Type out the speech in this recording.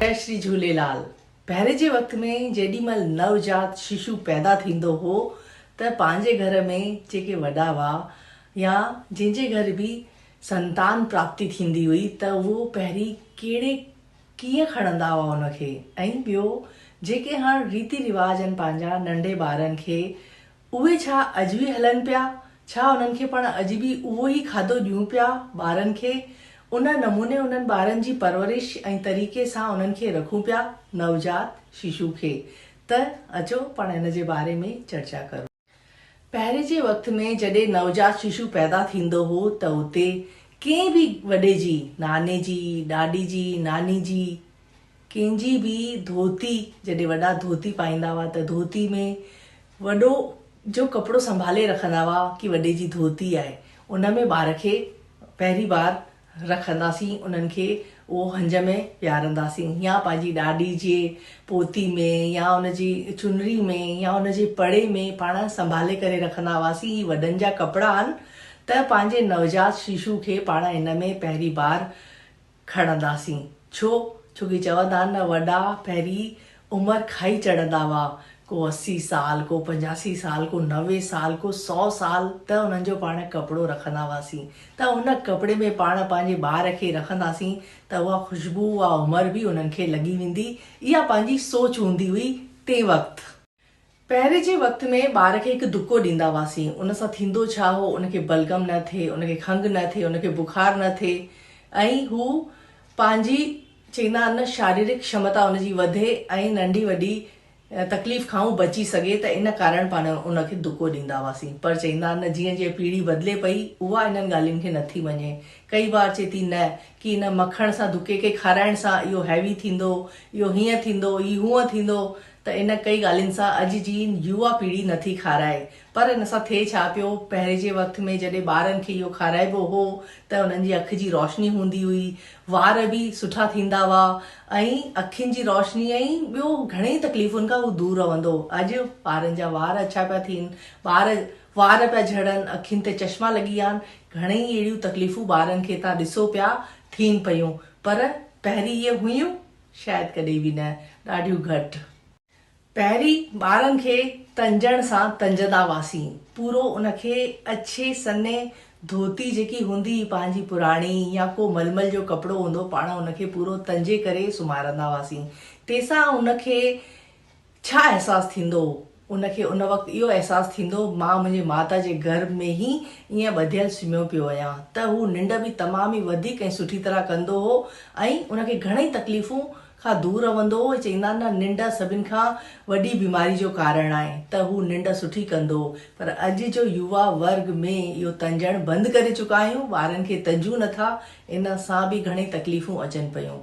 جئي شري جهوليلال پهرين جي وقت ۾ جيڏي مهل نوزاد ششو پيدا ٿيندو هو ته پنهنجي گهر ۾ جيڪي وڏا هئا يا جنهن جي گهر به سنتان پراپتي ٿيندي هئي ته اهو پهرين ڪهڙي ڪيئن کڻندا هئا ان کي ۽ ٻيو جيڪي هاڻ ريتي رواج آهن پنهنجا ننڍي ٻارن کي اهي ڇا اڄ به هلن پيا؟ ڇا انهن کي پڻ اڄ به اهو ئي کاڌو ڏيون پيا ٻارن کي؟ ان نموني انهن ٻارن جي پرورش ۽ طريقي سان انهن کي رکون پيا نوجات ششو کي ته اچو پاڻ ان جي باري ۾ چرچا ڪرون. پهرين جي وقت ۾ جڏهن نوجات ششو پيدا ٿيندو هو ته اتي ڪنهن به وڏي جي، ناني جي، ڏاڏي جي، ناني جي، ڪنهن جي به ڌوتي جڏهن وڏا ڌوتي پائيندا هئا ته ڌوتي ۾ وڏو جو ڪپڙو سنڀالي رکندا هئا ڪي وڏي جي ڌوتي آهي ان ۾ ٻار کي پهرين بار رکنداسين انهن کي اهو هنج ۾ ويهارنداسين يا پنهنجي ڏاڏي جي پوتي ۾ يا ان جي چنري ۾ يا ان جي پڙي ۾ پاڻ سنڀالي ڪري رکندا هئاسين هي وڏن جا ڪپڙا آهن ته پنهنجي نوزاد ششو کي پاڻ ان ۾ پهرين بار کڻنداسين. ڇو؟ ڇو ڪي چون ٿا نه وڏا پهري عمر کائي چڙهندا هئا. ڪو اسي سال، ڪو پنجاسي سال، ڪو نوي سال، ڪو سؤ سال ته انهن جو پاڻ ڪپڙو رکندا هئاسين ته ان ڪپڙي ۾ پاڻ پنهنجي ٻار کي رکنداسين ته اها خوشبو، اها عمر به انهن کي لڳي ويندي. اها پنهنجي سوچ هوندي هئي تنهن وقت. پهرين جي وقت ۾ ٻار کي هڪ دڪو ڏيندا هئاسين، ان سان ٿيندو ڇا هو، ان کي بلغم نه ٿئي، ان کي کنگهه نه ٿئي، ان کي بخار نه ٿئي ۽ هو پنهنجي چئيندا آهن نه شاريرڪ شمتا ان جي وڌي ۽ ننڍي وڏي تڪليف کان هو بچي سگهي ته ان ڪارڻ پاڻ ان کي دڪو ڏيندا هئاسين پر چئيندا آهن نه جيئن جيئن پيڙهي بدلي پئي اها انهن ڳالهين کي نٿي مڃي ڪئي بار چئي ٿي نه ڪي ان مکڻ سان دڪي کي کارائڻ سان اهو هيوي ٿيندو اهو هيئن ٿيندو هي هونئن ٿيندو ته ان ڪئي ڳالهين سان اڄ جي يووا پيڙهي نه ٿي کارائي پر ان سان ٿئي ڇا پيو پهرين جي وقت ۾ جڏهن ٻارن کي اهو کارائبو هو ته انهن جي اک جي روشني هوندي هئي وار به سٺا ٿيندا هئا ۽ اکين جي روشني ۽ ٻيو گهڻيئي تڪليفن کان هو دور رهندو اڄ ٻارن جا وار اڇا پيا ٿين ٻار وار پيا جهڙن اکين تي چشما لڳي ويا آهن گهڻيئي اهڙيون تڪليفون ٻارن کي تان ڏسو پيا ٿين پيون پر پهرين اهي هيون شايد ڪڏهن به نه، ڏاڍيون گهٽ. پهرين ٻارن کي تنجڻ سان تنجندا هئاسين، پورو ان کي اڇي سنهي ڌوتي جيڪي هوندي هئي پنهنجي پراڻي يا ڪو ململ جو ڪپڙو هوندو پاڻ ان کي پورو تنجي ڪري سمهارندا هئاسين، تيسان ان کي ڇا احساس ٿيندو هو؟ ان کي ان وقت اهو احساس ٿيندو هو مان منهنجي ماتا جي گهر ۾ ئي ائين ٻڌيل سمهيو پيو هيان ته هو ننڊ به تمام ئي وڌيڪ ۽ سٺي طرح ڪندو هو ۽ ان کي گهڻئي تڪليفون کان دور رهندو هو چئيندا آهن نه ننڊ سڀن کان وڏي بيماري جو ڪارڻ آهي ته هو ننڊ سٺي ڪندو هو پر اڄ جو يووا ورگ ۾ اهو تنجڻ بند ڪري چڪا آهيون ٻارن کي تنجون نٿا ان سان به گهڻئي تڪليفون اچن پيون